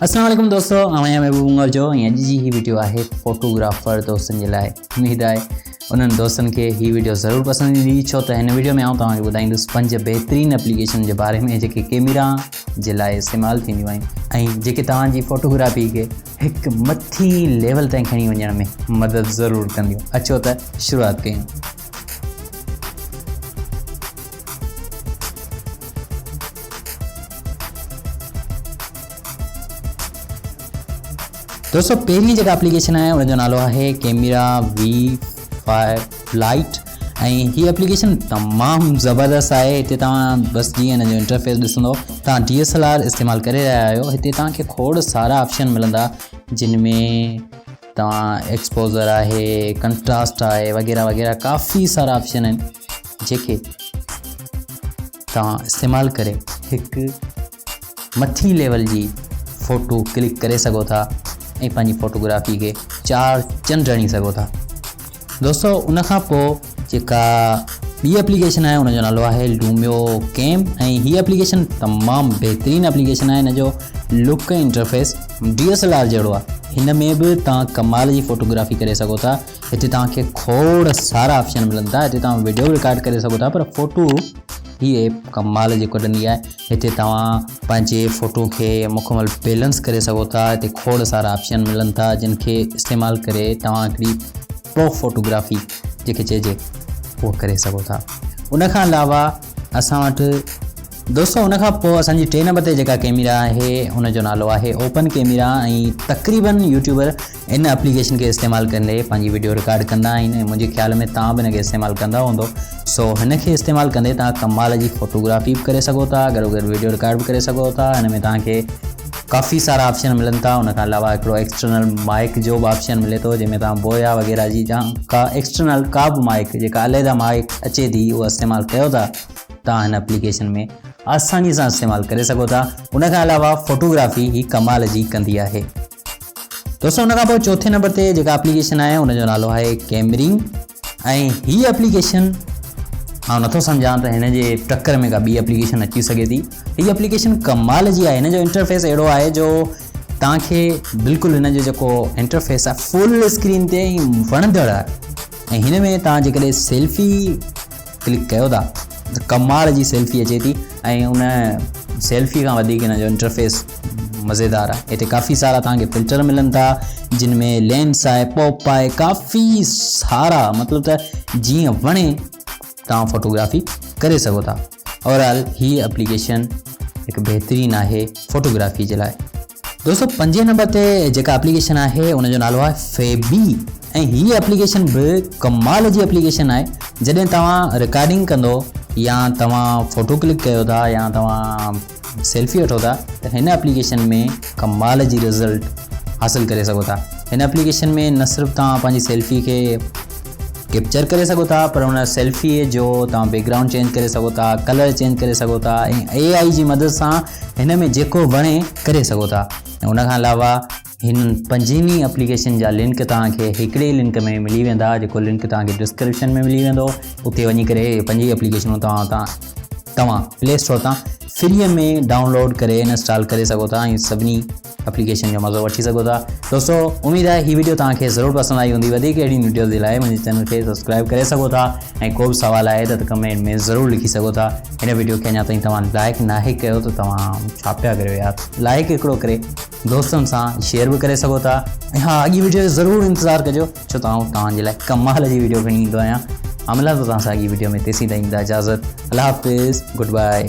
اسلام عليڪم دوستو آئون آهيان محبوب مغل جو ۽ اڄ جي هي ويڊيو آهي فوٽوگرافر دوستن جي لاء اميد آهي انهن دوستن کي هي ويڊيو ضرور پسند ايندي ڇو ته هن ويڊيو ۾ آئون توهان کي ٻڌائيندس پنج بهترين اپليڪيشن جي باري ۾ جيڪي ڪيميرا جي لاء استعمال ٿينديون آهن ۽ جيڪي توهان جي فوٽوگرافي کي هڪ مٿي ليول تائين کڻي وڃڻ ۾ مدد ضرور ڪنديون اچو ته شروعات ڪيون دوستو پهرين جيڪا اپليڪيشن آهي ان جو نالو آهي ڪيميرا وي فائيو لائيٽ ۽ هي اپليڪيشن تمام زبردست آهي هتي توهان بس جيئن ان جو انٽرفيس ڏسندو توهان ڊي ايس ايل آر استعمال ڪري رهيا آهيو هتي توهان کي کوڙ سارا آپشن ملندا جن ۾ توهان ایڪسپوزر آهي کنٽراسٽ آهي وغيره وغيره ڪافي سارا آپشن آهن جيڪي توهان استعمال ڪري هڪ مٿي ليول جي فوٽو ڪلڪ ڪري سگهو ٿا ۽ پنهنجي فوٽوگرافي کي چار چن ڏڻي سگهو ٿا دوستو ان کان پوء جيڪا ٻي اپليڪيشن آهي ان جو نالو آهي لوميو ڪيم ۽ هي اپليڪيشن تمام بهترين اپليڪيشن آهي ان جو look interface D S L R جهڙو آهي هن ۾ به تان ڪمال جي فوٽوگرافي ڪري سگهو ٿا هتي توهان کي کوڙ سارا آپشن ملن ٿا هتي توهان ويڊيو به رڪارڊ ڪري سگهو ٿا پر فوٽو هي ايپ ڪمال جي ڪڍندي آهي هتي توهان پنهنجي فوٽو کي مڪمل بيلنس ڪري سگهو ٿا هتي کوڙ سارا آپشن ملن ٿا جن کي استعمال ڪري توهان هڪڙي پرو فوٽوگرافي جيڪي چئجي اهو ڪري سگهو ٿا ان کان علاوه اسان وٽ دوستو ان کان پوء اسان جي ٽي نمبر تي جيڪا ڪيميرا آهي ان جو نالو آهي اوپن ڪيميرا ۽ تقريبن يوٽيوبر ان اپليڪيشن کي استعمال ڪندي پنهنجي ويڊيو رڪارڊ ڪندا آهن ۽ منهنجي خيال ۾ تان به ان کي استعمال ڪندا هوندو سو هن کي استعمال ڪندي تان ڪمال جي فوٽوگرافي به ڪري سگهو ٿا گڏو گڏ ويڊيو رڪارڊ به ڪري سگهو ٿا هن ۾ تان کي ڪافي سارا آپشن ملن ٿا ان کان علاوه هڪڙو ايڪسٽرنل مائڪ جو به آپشن ملي ٿو جنهن ۾ توهان بويا وغيره جي جا ڪا ايڪسٽرنل ڪا به مائڪ جيڪا عليحده مائڪ اچي ٿي اها استعمال ڪيو ٿا توهان هن اپليڪيشن ۾ آساني سان استعمال ڪري سگهو ٿا ان کان علاوه فوٽوگرافي هي ڪمال جي ڪندي آهي دوستو ان کان پوء چوٿين نمبر تي جيڪا اپليڪيشن آهي ان جو نالو آهي ڪيمري ۽ هي اپليڪيشن آئون نٿو سمجهان ته هن جي ٽڪر ۾ ڪا ٻي اپليڪيشن اچي سگهي ٿي هي اپليڪيشن ڪمال جي آهي هن جو انٽرفيس اهڙو آهي جو توهان کي بلڪل هن جو جيڪو انٽرفيس آهي فل اسڪرين تي وڻندڙ آهي ۽ هن ۾ توهان جيڪڏهن سيلفي ڪلڪ ڪيو ٿا ته ڪمال جي سيلفي اچي ٿي ۽ ان سيلفي کان وڌيڪ ان جو انٽرفيس مزيدار آهي هتي ڪافي سارا توهانکي فلٽر ملن ٿا جن ۾ لينس آهي پوپ آهي ڪافي سارا مطلب ته جيئن وڻي توهان فوٽوگرافي ڪري سگهو ٿا اوور آل هي اپليڪيشن هڪ بهترين آهي فوٽوگرافي جي لاء دوستو پنجين نمبر تي جيڪا اپليڪيشن آهي ان جو نالو آهي فيبي ۽ هي اپليڪيشن به ڪمال جي اپليڪيشن آهي جڏهن توهان رڪارڊنگ ڪندو يا توهان فوٽو ڪلڪ ڪيو ٿا يا توهان سيلفي وٺو ٿا ته هن اپليڪيشن ۾ ڪمال جي رزلٽ حاصل ڪري سگهو ٿا هن اپليڪيشن ۾ نه صرف توهان پنهنجي سيلفي کي ڪيپچر ڪري سگهو ٿا پر ان سيلفي جو توهان بيڪ گرائونڊ چينج ڪري سگهو ٿا ڪلر چينج ڪري سگهو ٿا ۽ اي آئي جي مدد سان هن ۾ جيڪو وڻي ڪري سگهو ٿا ۽ ان کان علاوه هنن پنجن ئي اپليڪيشن جا لنڪ توهان کي هڪڙي ئي لنڪ ۾ ملي ويندا جيڪو لنڪ توهان کي ڊسڪرپشن ۾ ملي ويندو اتي وڃي ڪري هي پنج ئي اپليڪيشنون توهان تان توهان پلي اسٽور تان فري ۾ ڊائونلوڊ ڪري انسٽال ڪري سگهو ٿا ۽ سڀني اپليڪيشن جو مزو وٺي سگهو ٿا دوستو اميد آهي هي ويڊيو توهان کي ضرور پسند آئي هوندي وڌيڪ اهڙي ويڊيوز جي لاء منهنجي چينل کي سبسڪرائب ڪري سگهو ٿا ۽ ڪو به سوال آهي ته ڪمينٽ ۾ ضرور لکي سگهو ٿا هن ويڊيو کي اڃا تائين توهان لائق ناهي ڪيو ته توهان ڇا پيا ڪريو يار لائق هڪڙو ڪري دوستن سان شيئر به ڪري سگهو ٿا ۽ ها اڳي ويڊيو جو ضرور انتظار ڪجو ڇو ته آئون توهان جي لاء ڪمال جي ويڊيو کڻي ايندو آهيان عملان تو توهان سان اڳي ويڊيو ۾ تيسين تائين اجازت الله حافظ گڊ بائي